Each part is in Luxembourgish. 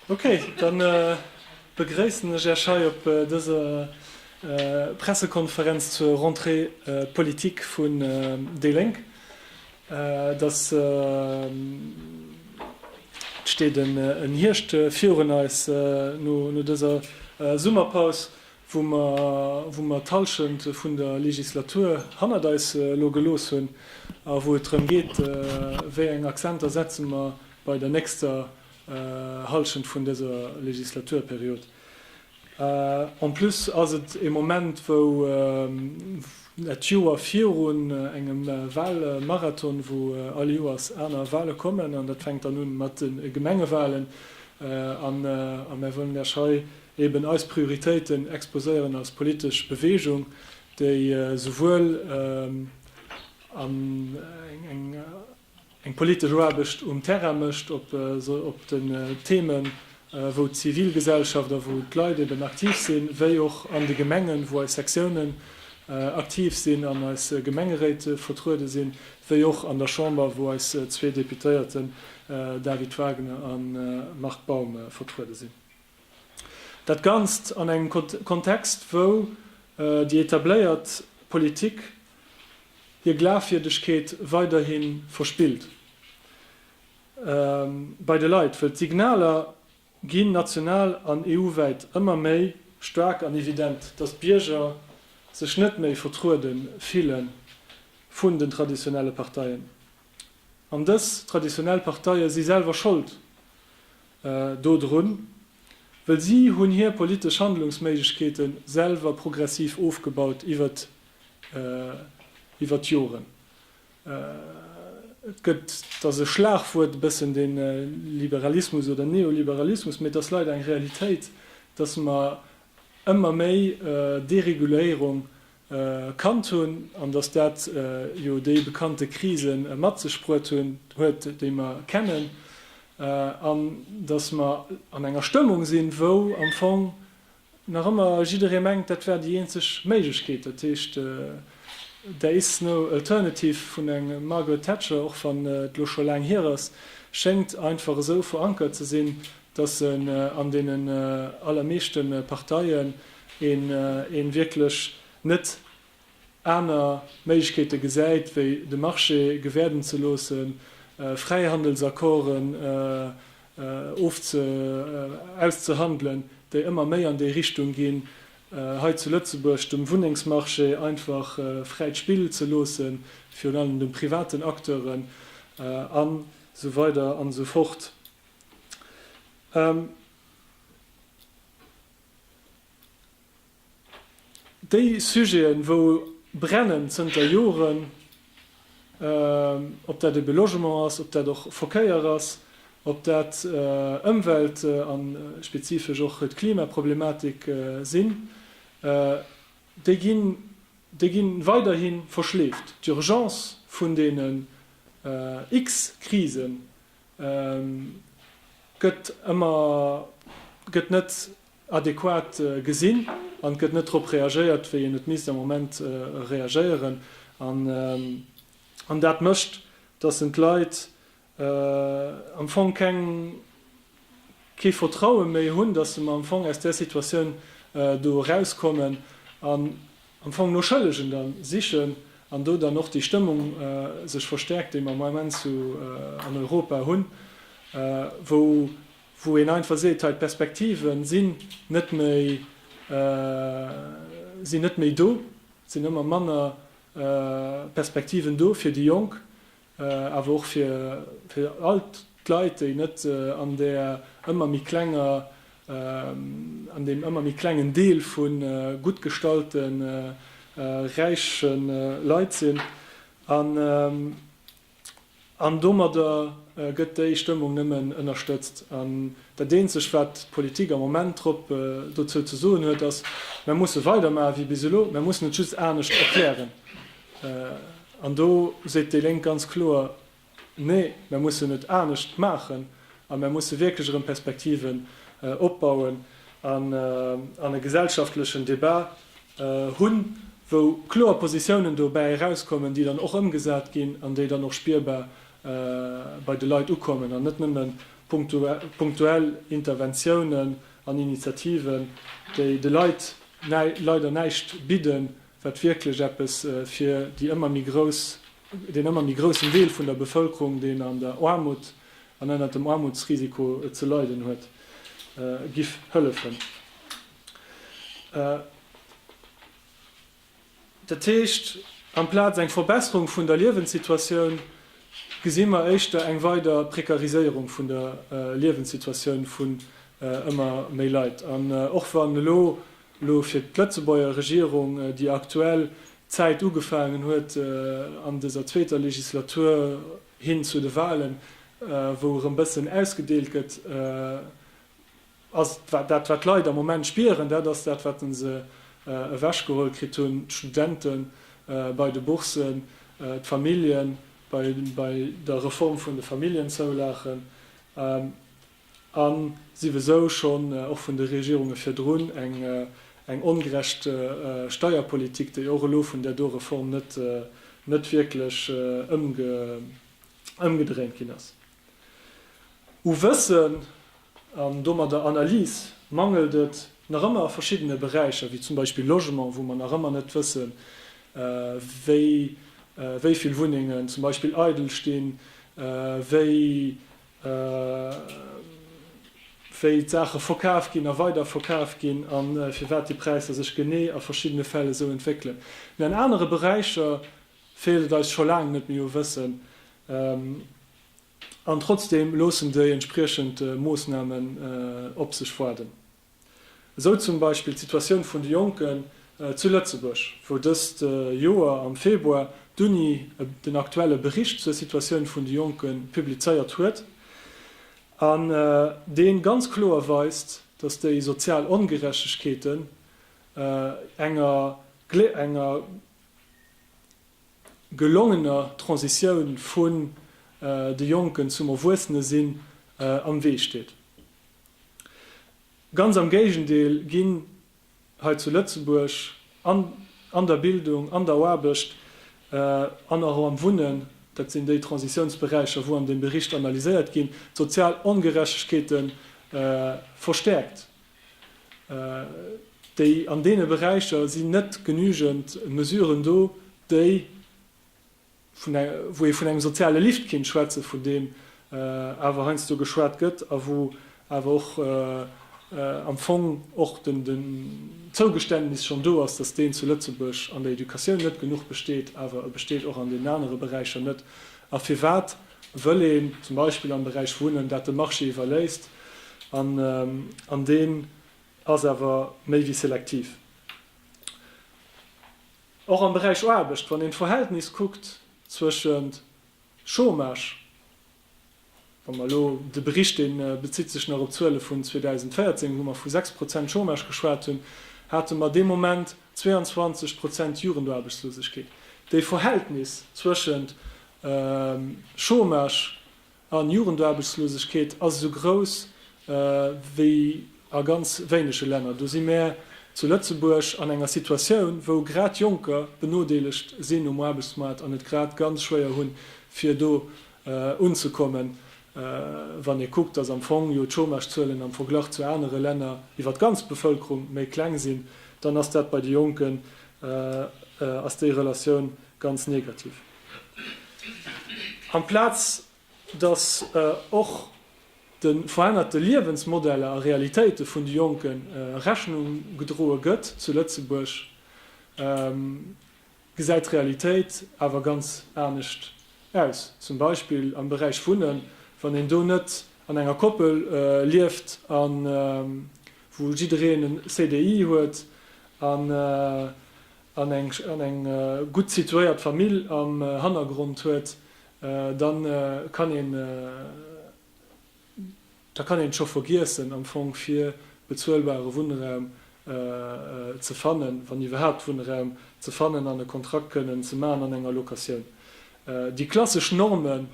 Ok, dann begréissen ech Iech hei op dëser Pressekonferenz zur Rentrée politique vun déi Lénk. Dass d'steet en Hierscht virun eis, no dëser Summerpaus, wou mer d'Hallschent vun der Legislatur hannert eis elo gelooss hunn a wou et drëm geet, wéi eng Accenter setze mer bei der nächster Hallschent vun dëser Legislaturperiod. En plus ass et e Moment, wou dat Joer virun engem Wahlmarathon, wou all Joers aner Wahle kommen, an dat fänkt dann un mat de Gemengewahlen, a mär wëllen lech hei eben eis Prioritéiten exposéieren als politesch Bewegung, déi souwuel eng. eng politesch Aarbecht um Terrain mécht, op den Themen, wou d'Zivilgesellschaft a wou d'Leit eben aktiv sinn, wéi och an de Gemengen, wou eis Sektiounen aktiv sinn an eis Gemengeréit vertruede sinn, wéi och an der Chamber, wou eis zwee Deputéierten David Wagner a Marc Baum vertruede sinn. Dat Ganzt an engem Kontext, wou déi etabléiert Politik hir Glafwierdegkeet weiderhi verspillt bei de Leit, wëll d'Signaler ginn, national an EU-wäit, ëmmer méi staark an evident, datt d'Bierger sech net méi vertruede fille vun den traditionelle Parteien. An dës traditionell Parteie si selwer Schold do drun, wëll si hunn hir politesch Handlungsméiglechkeete selwer progressiv ofgebaut iwwert iwwert d'Joren. Et gëtt, et ass e Schlagwuert e bëssen, dee Liberalismus oder Neoliberalismus, mee et ass leider eng Realitéit, datt mer ëmmer méi Dereguléierung Erkannt hunn, an datt dat jo déi bekannte Krise mat sech bruet hunn huet, déi mer kennen, an datt mer an enger Stëmmung sinn, wou am Fong nach ëmmer jidderee mengt, dat wär déi eenzeg Méiglechkeet, dat heescht, there is no alternative vun der Margaret Thatcher, och wann et elo scho laang hier ass, schéngt einfach esou verankert ze sinn, datt se an deenen allermeeschte Parteien, een een wierklech net aner Méiglechkeete gesäit wéi de Marché gewäerden ze loossen, Fräihandelsaccorden ofze auszehandelen, déi ëmmer méi an déi Richtung ginn, hei zu Lëtzebuerg dem Wunnengsmarché einfach fräit Spill ze loosse virun allem de privaten Acteuren a sou weider an esou fort. Déi Sujeten, wou brennen zënter Joren, ob dat ebe Logement ass, ob dat och Verkéier ass, ob dat Ëmwelt a spezifesch och d'Klimaproblematik sinn, déi ginn, déi gi weiderhi verschleeft. D'Urgence vun deenen x-Krisen, gëtt ëmmer gëtt net adequat gesinn an gëtt net drop reagéiert wéi een et misst am Moment reagéieren an dat mécht dass en d'Leit am Fong keng kee Vertraue méi hunn dass se mer am Fong aus där Situatioun do erauskommen an am Fong no Schëllegen dann sichen an do dann och déi Stëmmung sech verstärkt, déi mer am Ament zu an Europa hunn, wou wou een einfach seet, hei d'Perspektive sinn net méi sinn net méi do, et sinn ëmmer manner Perspektiven do fir déi Jonk, awer och fir all d'Leit, déi net an där ëmmer méi klenger, an deem ëmmer méi klengen Deel vu gutt gestallte räiche Leit sinn. An domadder gëtt déi Stëmmung nëmmen ënnerstëtzt. An dat Eenzegt, wat d'Politik am Moment drop dozou ze soen huet, ass, Mir musse weidermachen, wéi bis elo. Mir mussen et just anescht erklären. An do seet déi Lénk ganz kloer, Nee, mär mussen et anescht maachen a mär musse wierklech erëm Perspektiven opbauen an e gesellschaftlechen Debat hunn, wou kloer Positiounen dobäi erauskommen, déi dann och ëmgesat ginn an déi dann och spierbar bei de Leit ukommen an net nëmme punktuell Interventiounen an Initiativen, déi de Leit leider näischt bidden wat wierklech eppes fir déi ëmmer méi grouss, deen ëmmer méi groussen Deel vun der Bevëlkerung, deen an der Aarmut an ënnert dem Aarmutsrisiko ze leiden huet, giff hëllefen. Dat heescht, amplaz eng Verbesserung vun der Liewenssituatioun, gesi mer éischter eng weider Prekariséierung vun der Liewenssituatioun vun ëmmer méi Leit. An och wann elo elo fir d'Lëtzebuerger Regierung déi aktuell Zäit ugefaangen huet an dëser zweeter Legislatur hin zu de Wahlen, wou erëm bëssen ausgedeelt gëtt, ass dat wat d'Leit am Moment spieren, dat ass dat wat se ewechgeholl kritt hunn, d'Studente bei de Bourssen, d'Famillje bei der Reform vun de Familljenzoulagen. a siwesou schonn och vun de Regierunge virdrun eng ongerecht Steierpolitik, déi och elo vun där do Reform net wierklech ëmgedréint ginn ass. U Wëssen an domadder Analys mangelt et nach ëmmer a verschiddene Beräicher, wéi zum Beispill Logement, wou mer nach ëmmer net wëssen, wéi vill Wunnengen zum Beispill eidel stinn, wéi wéi d'Saache verkaf ginn a weider verkaf ginn a firwat déi Präisser sech genee a verschiddene Fäll esou entwéckelen. Mee an anere Beräicher feelt et eis scho laang net méi u Wëssen an trotzdeem loossen déi entspriechend Moossnamen op sech waarden. Esou zum Beispill d'Situatioun vun de Jonken zu Lëtzebuerg, wou dëst Joer am Februar d'Uni den aktuelle Bericht zur Situatioun vun de Jonke publizéiert huet an dee ganz kloer weist, datt déi sozial Ongerechtegkeeten enger enger gelongener Transitioun vun de Jonken zum Erwuessenesinn am Wee steet. Ganz am Géigendeel ginn hei zu Lëtzebuerg an an der Bildung, an der Aarbecht an och am Wunnen, dat sinn déi Transitiounsberäicher, wou an deem Bericht analyséiert ginn, d'sozial Ongerechtegkeete verstäerkt. Déi an deene Beräicher sinn net genügend Mesuren do, déi wou ee vun engem soziale Lift kéint schwätzen, vun deem awer heiansdo geschwat gëtt a wou awer och am Fong och den Zougeständnis schonn do ass, dass deen zu Lëtzebuerg an der Educatioun net genuch besteet, awer e besteet och an deenen anere Beräicher net. A firwat wëll een zum Beispill am Beräich Wunnen dat de Marché iwwerléisst? An deen ass awer méi wéi selektiv. Och am Beräich Aarbecht, wann een d'Verhältnis kuckt zwëschent Chômage, wa mer elo de Bericht, dee bezitt sech nach op d'Zuele vun 2014, wou mer vu 6 Prozent Chômage geschwat hunn, hate mer dee Moment 22 Prozent Jugendarbechtslosegkeet. Déi Verhältnis zwëschent Chômage An d'Jugendaarbechtslosegkeet ass esou grouss wéi a ganz wéinege Länner. Do si mär zu Lëtzebuerg an enger Situatioun, wou grad Jonker benodeelegt sinn um Aarbechtsmaart an et grad ganz schwéier hunn, fir do unzekommen, wann ee kuckt, datt am Fong jo d'Chômagezuelen am Verglach zu anere Länner iwwer d'ganz Bevëlkerung méi kleng sinn. Dann ass dat bei de Jonken, ass déi Relatioun ganz negativ. Amplaz datt och de verännerte Liewensmodeller a Realitéite vun de Jonken Rechnung gedroe gëtt zu Lëtzebuerg, gesäit d'Realitéit awer ganz anescht aus, zum Beispill am Beräich Wunnen, wann een do net an enger Koppel lieft a wou jiddereen en CDI huet a an eng gutt situéiert Famill am Hannergrond huet, da kann een et scho vergiessen am Fong fir bezuelbare Wunnraum ze fannen, wann iwwerhaapt Wunnraum ze fannen an e Kontrakt kënnen ze maachen an enger Locatioun. Déi klassesch Normen.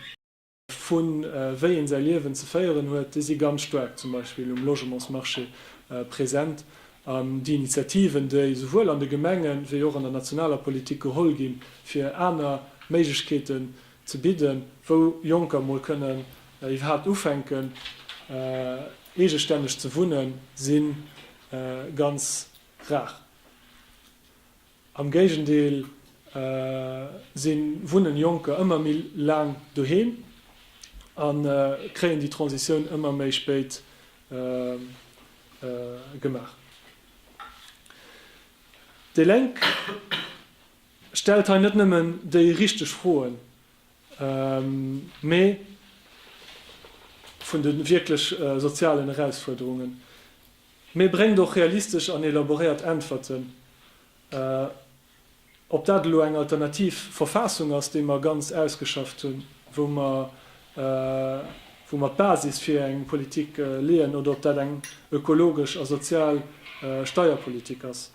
vu wéi een säi Liewen ze féieren huet, déi si ganz staark zum Beispill um Logementsmarché present. An déi Initiativen, déi esouwuel an de Gemengen, wéi och an der nationaler Politik geholl ginn, fir aner Méiglechkeeten ze bidden, wou Jonker mol kënnen iwwerhaapt ufänken, eegestänneg ze wunnen, si ganz rar. Am Géigendeel, se wunnen Jonker ëmmer méi laang doheem a kréien déi Transitioun ëmmer méi spéit gemaach. Déi Lénk stellt hei net nëmmen déi richteg Froen, mee vun de wierklech sozialen Erausfuerderungen. Mee bréngt och realistesch an elaboréiert Äntwerten. Ob dat elo eng alternativ Verfaassung ass, déi mer ganz ausgeschafft hunn, wou mer wou mer d'Basis fir eng Politik leeën, oder ob dat eng ökologesch a sozial Steierpolitik ass,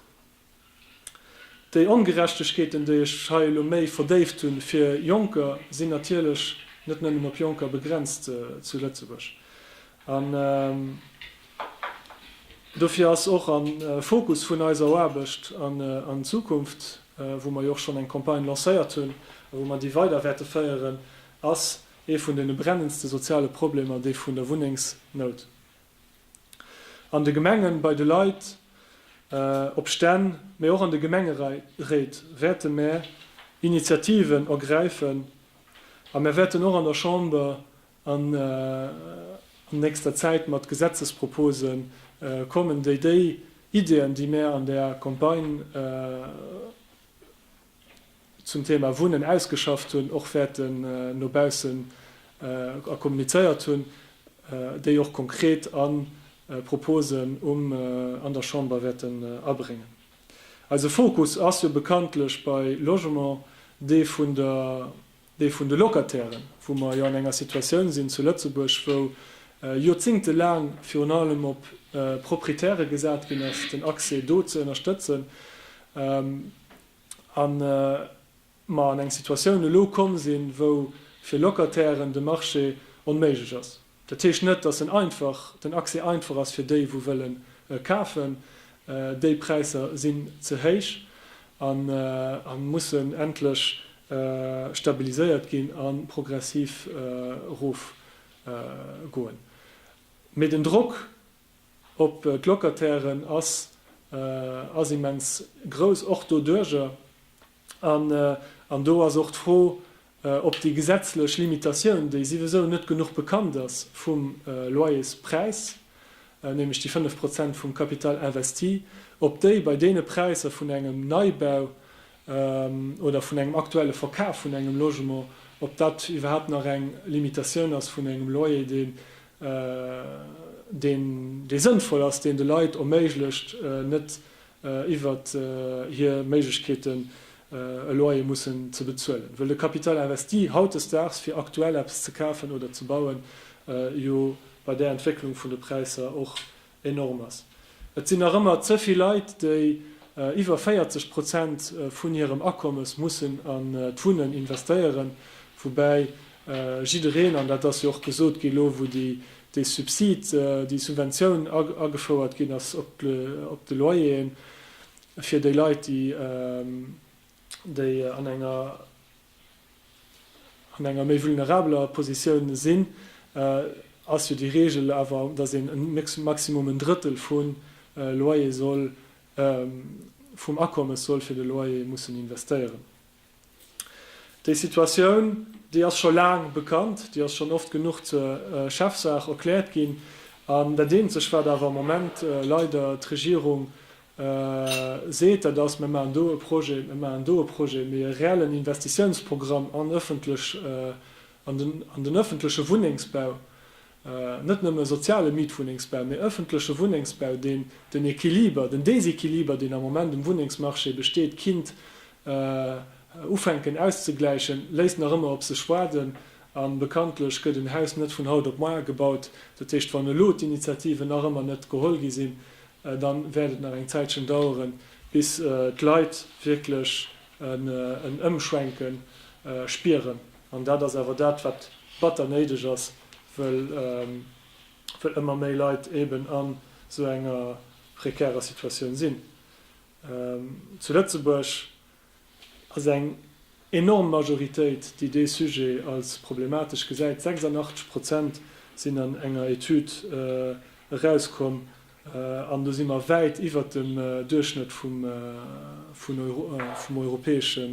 Déi Ongerechtegkeeten, déi ech hei elo méi verdéift hunn, fir Jonker, sinn natierlech net nëmmen op Jonker begrenzt zu Lëtzebuerg. An dofir ass och am Fokus vun eiser Aarbecht an Zukunft, wou mer jo och schonn eng Campagne lancéiert hunn a wou mer déi weider wäerte féieren, ass ee vun deene brennendste soziale Problemer dee vun der Wunnengsnout. An de Gemengen, bei de Leit op Stänn, mee och an de Gemengeréit wäerte mär Initiativen ergräifen a mär wäerten och an der Chamber an nächster Zäit mat Gesetzespropose kommen, déi déi Ideeën, déi mär an där Campagne, zum Thema Wunnen ausgeschafft hunn, och wäerten no baussen a kommunizéiert hunn, déi och konkret a Proposen um an der Chamber wäerten abréngen. Eise Fokus ass jo bekanntlech bei Logement dee vun der Dee vun de Locatairen, wou mer jo an enger Situatioun sinn zu Lëtzebuerg, wou joerzingtelaang virun allem op Proprietäre gesat ginn ass, den Accès do ze ënnerstëtzen, a mer an eng Situatioun elo komm sinn, wou fir Locatairen de Marché onméiglech ass. Dat heescht net, dass en einfach, den Accès einfach ass fir déi, wou wëllen kafen. Déi Präisser sinn ze héich a mussen endlech stabiliséiert ginn a progressiv erof goen. Mee den Drock op d'Locatairen ass ass immens grouss, och doduerjer. An do ass och d'Fro, ob déi gesetzlech Limitatioun, déi souwisou net genuch bekannt ass, vum Loyerspräis, nämlech déi 5 Prozent vum Capital investi, ob déi bei deene Präisser vun engem Neibau oder vun engem aktuelle Verkaf vun engem Logement, ob dat iwwerhaapt nach eng Limitatioun ass vun engem Loyer, dee deen dee sënnvoll ass, deen de Leit erméiglecht, net iwwert hir Méiglechkeeten e Loyer mussen ze bezuelen, wëll de Capital investi hautdesdaags, fir aktuell eppes ze kafen oder ze bauen, jo bei där Entwécklung vun de Präisser och enorm ass. Et sinn nach ëmmer ze vill Leit, déi iwwer 40 Prozent vun hirem Akommes mussen an d'Wunnen investéieren, woubäi jiddereen, an dat ass jo och gesot ginn, elo wou dee Subside, déi Subventioun agefouert ginn ass op de Loyeren fir déi Leit, déi an enger. an enger méi vulnerabeler Positioun sinn, ass jo déi Regel awer, dass een e Maximum en Drëttel vun Loyer soll, vum Akommes soll fir de Loyer mussen investéieren. Déi Situatioun, déi ass scho laang bekannt, déi ass schonn oft genuch zur Chefsaach erkläert ginn, an dat Eenzeg, wat awer am Moment leider d'Regierung seet, dat ass, Mir maachen do e Projet, mir maachen do e Projet, mee e reellen Investitiounsprogramm an ëffentlech, an den ëffentleche Wunnengsbau, net nëmme e soziale Mietwunnengsbau, mee ëffentleche Wunnengsbau, deen den Equiliber, den Déséquiliber, deen am Moment um Wunnengsmarché besteet, kinnt ufänken auszegläichen, léisst nach ëmmer op sech waarden. A bekanntlech gëtt en Haus net vun haut op moar gebaut. Dat heescht, wann elo d'Initiativen nach ëmmer net geholl gi sinn, dann wäert et nach eng Zäitchen daueren, bis d'Leit wierklech en Ëmschwenke spieren. An dat ass awer dat, wat batter néideg ass, wëll ëmmer méi Leit eeben an esou enger prekärer Situatioun sinn. Zu Lëtzebuerg ass eng enorm Majoritéit, déi dee Sujet als problematesch gesäit. 86 Prozent sinn an enger Etüd erauskomm, an do si mer wäit iwwert dem Duerchschnëtt vum europäesche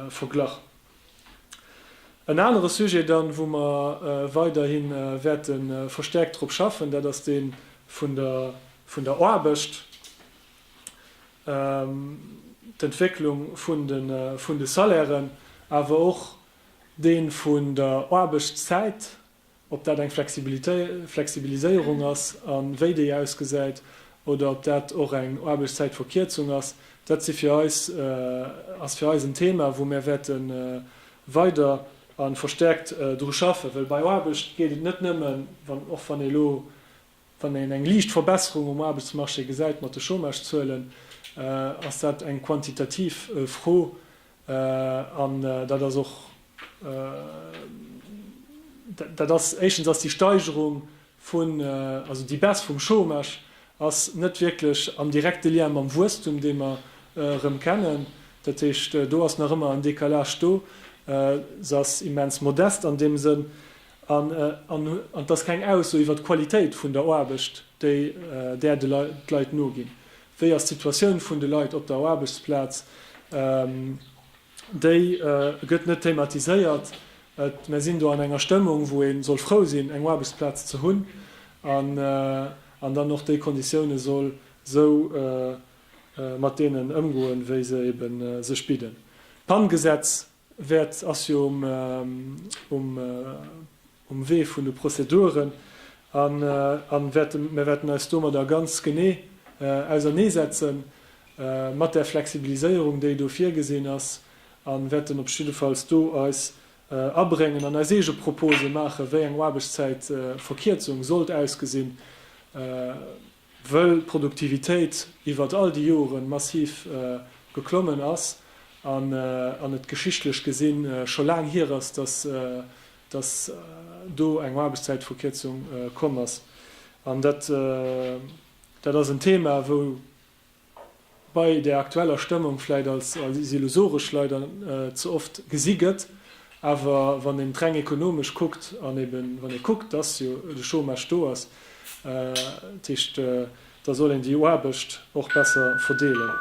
Verglach. En anere Sujet dann, wou mer weiderhi wäerte verstäerkt drop schaffen, dat ass dee vun der Aarbecht. d'Entwécklung vun de Salairen, awer och dee vun der Aarbechtszäit, ob dat eng Flexibiliséierung ass a wéi déi ausgesäit oder ob dat och eng Aarbechtszäitverkierzung ass, dat si fir eis, ass fir eis en Thema, wou mir wäerte weider a verstäerkt dru schaffen. Well bei Aarbecht geet et net nëmmen, och wann ee elo Wann een eng liicht Verbesserung um Aarbechtsmarché gesäit mat de Chômage-Zuelen, ass dat eng quantitativ Fro an dat ass och, dat ass, éischtens ass déi Steigerung vun, also déi Baisse vum Chômage ass net wierklech am direkte Lien mam Wuesstum, dee mer erëm kennen. Dat heescht, do ass nach ëmmer en Décalage do, se ass immens modest an deem Sënn. An et ass keng Ausso iwwert d'Qualitéit vun der Aarbecht, déi där d'Leit noginn. Wéi ass d'Situatioun vun de Leit op der Aarbechtsplaz? Déi gëtt net thematiséiert. Mer sinn do an enger Stëmmung, wou ee soll frou sinn, eng Aarbechtsplaz ze hunn an dann och déi Konditioune soll esou mat deenen ëmgoen, wéi se ebe sech bidden. D'Pann-Gesetz Wäert ass jo um Wee vun de Prozeduren a mir wäerten eis domadder ganz genee auserneesetze mat där Flexibiliséierung, déi do virgesinn ass, a wäerten op jiddefalls do eis abréngen an eis eege Propose maachen, wéi eng Aarbechtszäitverkierzung sollt ausgesinn. Wëll d'Produktivitéit iwwert all déi Joren massiv geklommen ass an et geschichtlech gesinn scho laang hier ass, dass do eng Aarbechtszäitverkierzung komm ass. An dat ass en Thema, wou bei där aktueller Stëmmung vläit als illusoresch leider ze oft gesi gëtt, awer wann een et reng ekonomesch kuckt an ebe wann ee kuckt, dass jo de Chômage do ass, dat heescht, da soll een déi Aarbecht och besser verdeelen.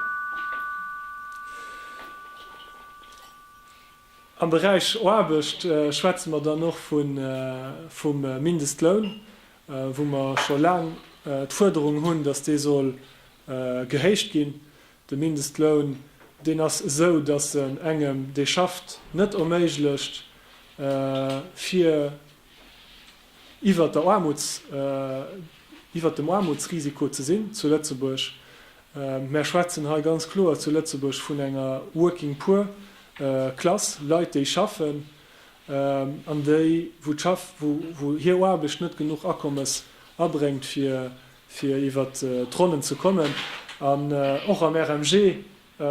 Am Beräich Aarbecht schwätze mer dann och vum Mindestloun. wou mer scho laang d'Fuerderung hunn, datt dee soll gehéicht ginn, de Mindestloun, deen ass esou, datt en engem, dee schafft, net erméiglecht, fir iwwert der Aarmuts, iwwert dem Aarmutsrisiko ze sinn zu Lëtzebuerg. Mer schwätzen hei ganz kloer zu Lëtzebuerg vun enger Working Poor Klass, Leit, déi schaffen. an déi wou d'Schaff, wou hir Aarbecht net genuch Akommes abréngt fir fir iwwert d'Ronnen ze kommen. An och am RMG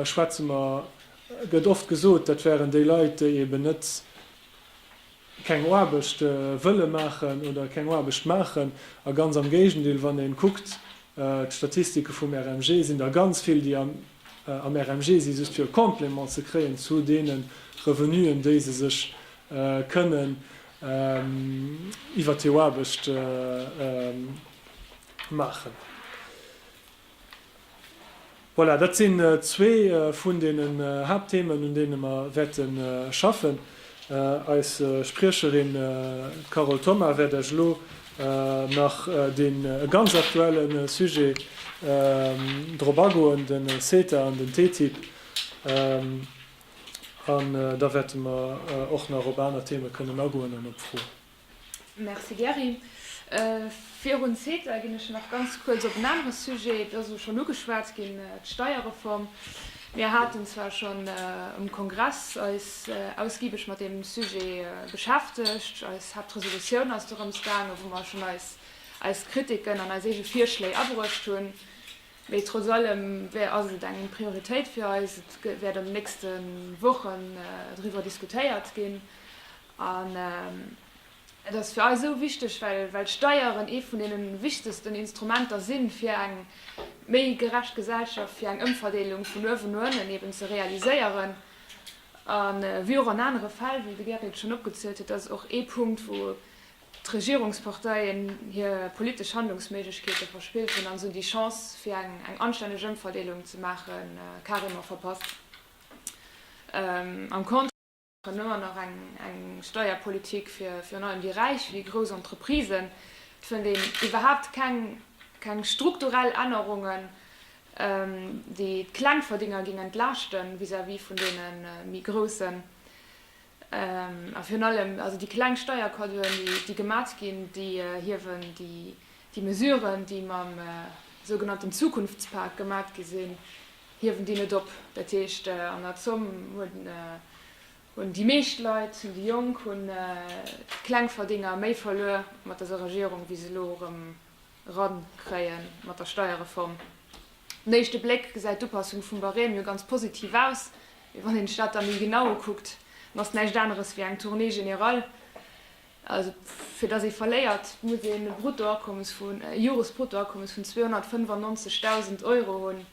schwätze mer, gëtt oft gesot, dat wären déi Leit déi eben net, keng Aarbecht wëlle maachen oder keng Aarbecht maachen. A ganz am Géigendeel, wann ee kuckt d'Statistike vum RMG, sinn der ganz vill déi am am RMG sinn, just fir e Complément ze kréien zu deene Revenuen, déi se sech kënnen iwwer hir Aarbecht maachen. Voilà, dat sinn zwee vun deenen Haaptthemen, un deene mer wäerte schaffen. Eis Spriecherin Carole Thoma wäert Iech elo nach dee ganz aktuelle Sujet drop agoen, den CETA an den TTIP. An da wäerte mer och nach op aner Themen kënnen agoen an op Froen. Merci Gerry. Virun CETA ginn ech nach ganz kuerz op en anere Sujet, et ass o schonn ugeschwat ginn, d'Steierreform. Mir haten zwar schonn um Kongress eis ausgibeg mat deem Sujet beschäftegt, eis Haaptresolutioun ass dorëms gaangen, wou mer schonn eis eis Kritiken an eis eege Virschléi abruecht hunn, mee trotz allem wär ass et eng Prioritéit fir eis. Et wäert an de nächste Wochen driwwer diskutéiert ginn An et ass fir eis esou wichteg, well d'Steieren ee vun deene wichtegsten Instrumenter sinn, fir eng méi gerecht Gesellschaft, fir eng Ëmverdeelung vun uewen no ënnen eben ze realiséieren. A wéi och an anere Fäll, wéi de Gary et schonn opgezielt huet, ass et och ee Punkt, wou d'Regierungsparteien hir politesch Handlungsméiglechkeete verspillt hunn an esou déi Chance, fir eng anstänneg Ëmverdeelung ze maachen, carrément verpasst. Herno an nach eng Steierpolitik fir virun allem déi Räich wéi grouss Entreprisen. Et fënnt een iwwerhaapt keng strukturell Ännerungen, déi d'Klengverdénger géing entlaaschte vis-à-vis vun deene méi Groussen. A virun allem also déi kleng Steiercadeauen, déi gemat ginn, déi hiewen déi Mesuren, déi mam sougenannten Zukunftspak gemat gi sinn, hiewen déi net op. Dat heescht, an der Zomm hunn déi meescht Leit, hunn déi Jonk, hunn d'Klengverdénger méi verluer mat dëser Regierung, wéi se elo erëm erankréie mat der Steierreform. Op den éischte Bléck gesäit d'Upassung vum Barème jo ganz positiv aus, mee wann een sech dat da méi genau ukuckt, dann ass et näischt aneres wéi eng Tournée générale. Also fir datt ee verléiert, muss een e Bruttoakommes vu, e Joresbruttoakommes vun 295.000 Euro hunn.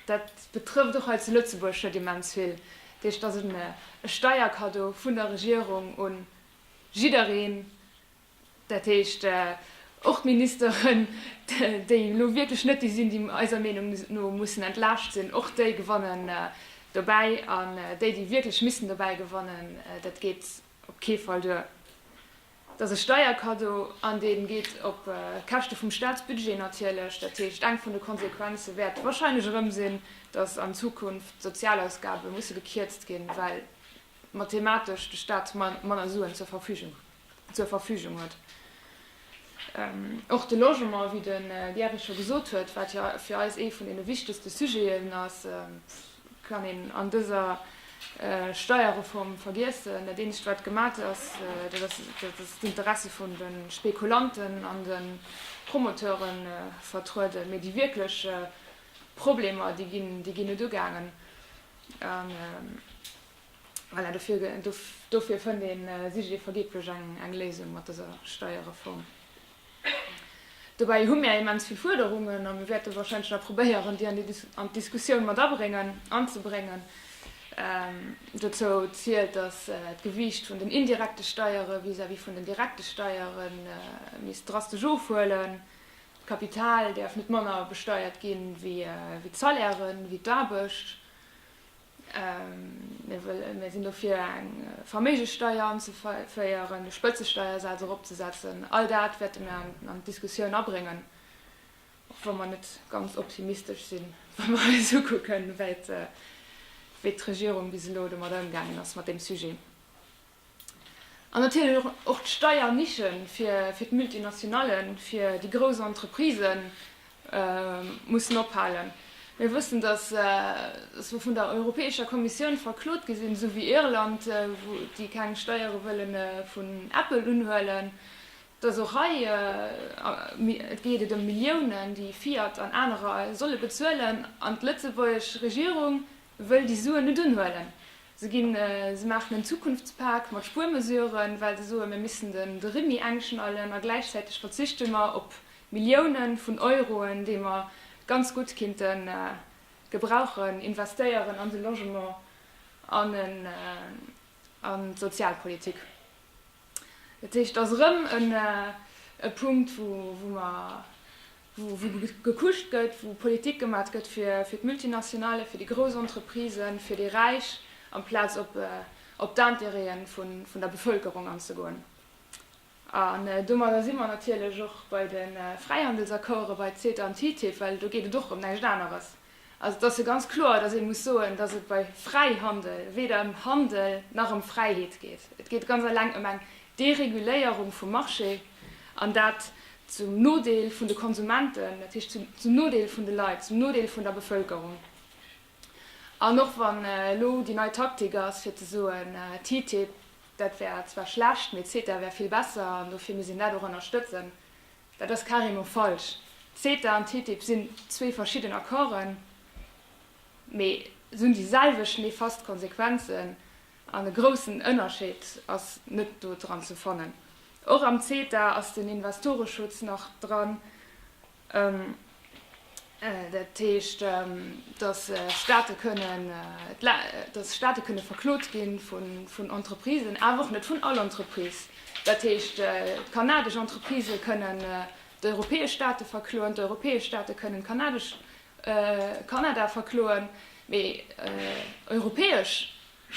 Dat betrëfft och hei zu Lëtzebuerg net immens vill. Dat heescht, dass et e Steierkaddo vun der Regierung un jiddereen, dat heescht och d'Ministeren, déi elo wierklech net déi sinn, déi eiser Meenung no mussen entlaascht sinn, och déi gewannen dobäi. An déi, déi wierklech missten dobäi gewannen, dat geet Op kee Fall duer. Et ass e Steierkaddo an dee geet op Käschte vum Staatsbudget natierlech. Dat heescht, eng vun de Konsequenze wäert warscheinlech erëm sinn, datt an Zukunft d'Sozialausgabe musse gekierzt ginn, well mathematesch de Staat manner Suen zur Verfügung huet. Och de Logement, wéi de Gerry scho gesot huet, wat jo fir eis ee vun deene wichtegste Sujeten ass, kann een an dëser Steierreform vergiessen. Dat eenzegt, wat gemat ass, dat ass, datt d'Interesse vun de Spekulanten an de Promoteure vertrueden, mee déi wierklech Problemer, déi ginn net ugaangen. Voilà, dofir, dofir fënnt ee Sujet vergeetlech eng, eng Léisung mat dëser Steierreform. Dobäi hu mir immens vill Fuerderungen a mir wäerte wahrscheinlech nach probéieren, déi an déi, an d'Diskussioun mat abréngen, anzebréngen. Ähm, dozou zielt, dass d'Gewiicht vun den indirekte Steiere vis-à-vis vun den direkte Steiere misst drastesch ofhuelen. D'Kapital däerf net manner besteiert ginn, wéi d'Salairen, wéi d'Aarbecht. Mir sinn dofir, eng Verméigesteier anzeféieren, de Spëtzesteiersaz eropzesetzen. All dat wäerte mir an d'Diskussioun abréngen, och wa mer net ganz optimistesch sinn, wa mer eis ukucken, wéi d'Regierung bis elo domat ëmgaangen ass, mat deem Sujet. An natierlech och d'Steiernische fir d'Multinationallen, fir déi grouss Entreprisë mussen ophalen. Mir wëssen, datt mer vun der Europäescher Kommissioun verklot gi sinn, esou wéi Irland, déi keng Steiere wëlle vun Apple unhuelen. Datt och hei geet et ëm Milliounen, déi Fiat an anerer solle bezuelen, an d'lëtzebuergesch Regierung Wëll déi Suen net unhuelen. Se ginn, se maachen en Zukunftspak mat Spuermesuren, well se soen, mir missen den de Rimmi engschnallen a gläichzäiteg verzichte mer op Milliounen vun Euroen, déi mer ganz gutt kinnte gebrauchen, investéieren an de Logement an an d'Sozialpolitik. Dat heescht, et ass erëm e Punkt, wou mer wou gekutscht gëtt, wou Politik gemat gëtt fir d'Multinationale, fir déi grouss Entreprisen, fir déi Räich, amplaz op d'Intérêtë vun der Bevëlkerung anzegoen. An domadder si mer natierlech och bei de Fräihandelsaccorde bei CETA an TTIP, well do geet et och ëm näischt aneres. Also et ass jo ganz kloer, datt ee muss soen, datt et bei Fräihandel weder ëm Handel nach ëm Fräiheet geet. Et geet ganz alleng ëm eng Dereguléierung vum Marché, an dat zum Nodeel vun de Konsumenten, dat heescht zum Nodeel vun de Leit, zum Nodeel vun der Bevëlkerung. An och wann elo déi nei Taktik ass, fir ze soen, TTIP, dat wär zwar schlecht, mee CETA wär vill besser an dofir misst een dat och ënnerstëtzen, Dat ass carrément falsch. CETA an TTIP sinn zwee verschidden Accorden, mee se hunn déi selwecht nefast Konsequenzen, an e groussen Ënnerscheed ass net do dran ze fannen. Och am CETA ass den Investoreschutz nach dran. Dat heescht, datt Staate kënnen, datt Staate kënne verklot gi vun Entreprisen, awer och net vun all Entreprise. Dat heescht, d'kanadesch Entreprisë kënnen d'europäesch Staate verkloen, d'europäesch Staate kënnen d'kanadesch, Kanada verkloen, mee europäesch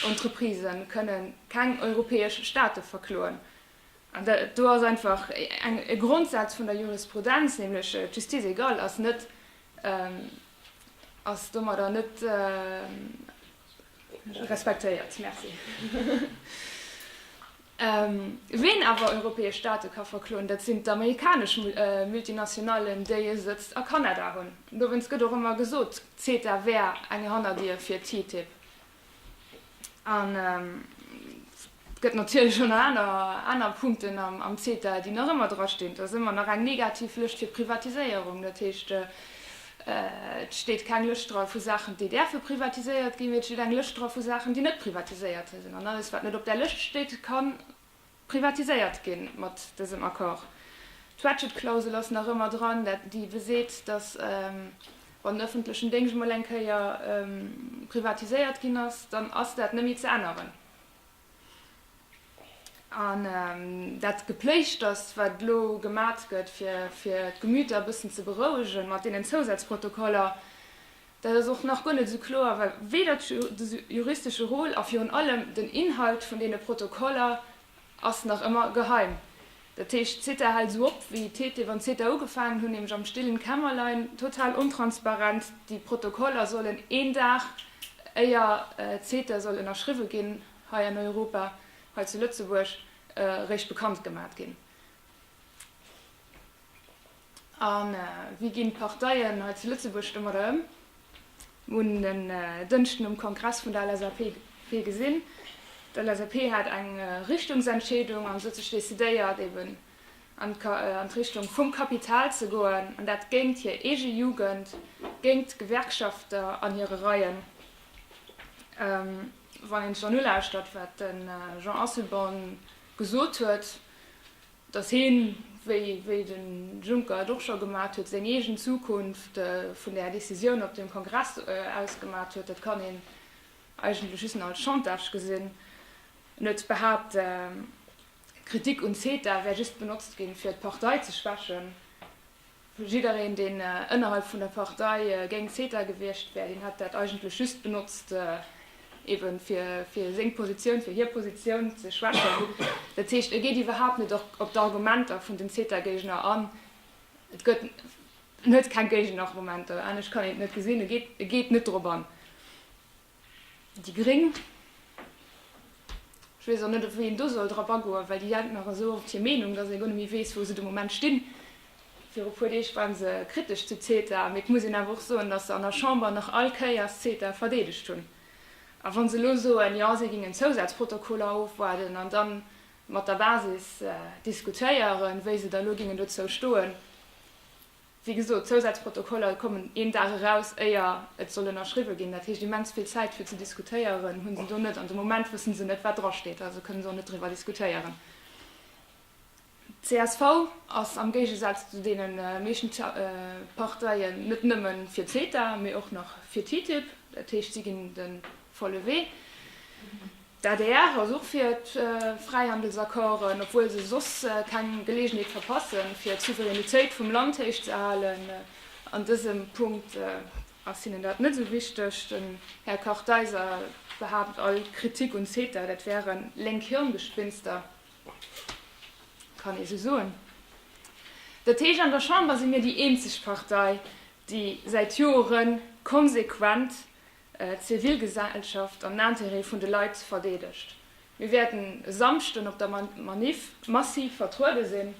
Entreprisë kënnen keng europäesch Staate verkloen. An dat do ass einfach e Grondsaz vun der Jurisprudenz, nämlech d'Justice égale ass net, ass domadder net respektéiert. Merci. Ween awer europäesch Staate ka verkloen, dat sinn d'amerikanesch Multinationallen, déi e Sëtzt a Kanada hunn. Dowéinst gëtt och ëmmer gesot, CETA wär eng Hannerdier fir TTIP. An et gëtt natierlech och nach aner Punkten am CETA, déi nach ëmmer drastinn. Et ass ëmmer nach eng negativ Lëscht fir d'Privatiséierung. Dat heescht, et steet keng Lëscht dra vu Saachen, déi däerfe privatiséiert ginn, mee et steet eng Lëscht dra vu Saachen, déi net privatiséiert sinn. An alles, wat net op där Lëscht steet, ka. privatiséiert ginn mat dësem Accord. D'Ratchet-Klausel ass nach ëmmer dran, déi beseet, datt wann den ëffentlechen Déngscht emol eng Kéier privatiséiert ginn ass, dann ass dat net méi ze änneren. An dat Gepléischters, wat elo gemat gëtt, fir d'Gemüter e bëssen ze berouegen mat deenen Zousazprotokoller, Dat ass och nach guer net esou kloer, well weder de juristesche Rôle a virun allem den Inhalt vun deene Protokoller ass nach ëmmer geheim. Dat heescht, d'CETA hält esou op wéi TTIP an CETA ugefaangen hunn, nämlech am stillen Kämmerlein, total ontransparent. Déi Protokoller sollen een Dag éier CETA soll ënnerschriwwe ginn hei an Europa, hei zu Lëtzebuerg, eréischt bekannt gemat ginn. A wéi ginn d'Parteien hei zu Lëtzebuerg domadder ëm? Hunn en Dënschden um Kongress vun der LSAP virgesinn. D'LSAP hat eng Richtungsentscheedung an sot sech decidéiert eben an d'Richtung vum Kapital ze goen an dat géingt hir eege Jugend, géingt d'Gewerkschafter an hire Reien. Wann een sech dann ulauschtert wat de Jean Asselborn gesot huet, dass hien, wéi de Juncker et och scho gemat huet, seng eegen Zukunft vun där Décisioun op dem Kongress aus gemat huet, dat kann een eigentlech just nach als Chantage gesinn. En huet behaapt, d'Kritik un CETA wär just benotzt ginn, fir d'Partei ze schwächen. Jiddereen, deen ënnerhalb vun der Partei géint CETA gewiescht wär, deen hätt dat eigentlech just benotzt, eebe fir seng Positioun, fir hir Positioun ze schwächen. Dat heescht, e geet iwwerhaapt net op d'Argumenter vun den CETA-Géigner an. Et gëtt, en huet keng Géigenargumenter, anescht kann een et net gesinn, e geet net drop an. Déi Gréng, ech weess och net op wéi een do soll drop agoen, well déi hänkt nach esou op hir Meenung, datt ee guer net méi weess wou se de Moment stinn. Viru e puer Deeg ware se kritesch zu CETA, mee et muss een awer och soen, datt se an der Chamber nach all Kéiers CETA verdeedegt hunn. A wa se elo soen, jo si géingen d'Zousatzprotokoller ofwaarden an da mat der Basis diskutéieren, wéi se da elo géingen dozou stoen, Wéi gesot, d'Zousazprotokoller kommen een Dag eraus, éier et soll ënnerschriwwe ginn. Dat heescht, immens vill Zäit fir ze diskutéieren hu se do net. An de Moment wësse se net, wat drasteet, also kënne se och net driwwer diskutéieren. Csv ass am Géigesaz zu deene meeschten Parteien net nëmme fir CETA, mee och nach fir TTIP. Dat heescht, si ginn de volle Wee. D'adr ass och fir d'Fräihandelsaccorden, obwuel se soss keng Geleegenheet verpassen, fir d'Souveränitéit vum Land héich ze halen. An dësem Punkt ass hinnen dat net esou wichteg. Den Här Kartheiser behaapt, all Kritik un CETA, dat wäre lénk Hirngespinster. Kann ee sou soen. Dat heescht, an der Chamber si mir déi eenzeg Partei, déi säit Joere konsequent d'Zivilgesellschaft an d'Intérêt vun de Leit verdeedegt. Mir wäerten e Samschden op der Maniff massiv vertruede sinn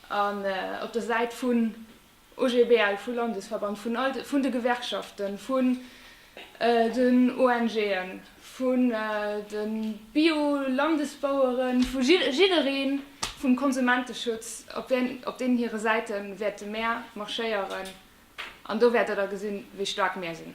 an op der Säit vun OGBL, vu Landesverband, vun de Gewerkschaften, vun den ONGen. vun de Bio-Landesbaueren, vu jiddereen, vum Konsumenteschutz, op deenen hire Säite wäerte mär marschéieren, an do wäert Der da gesinn, wéi staark mär sinn.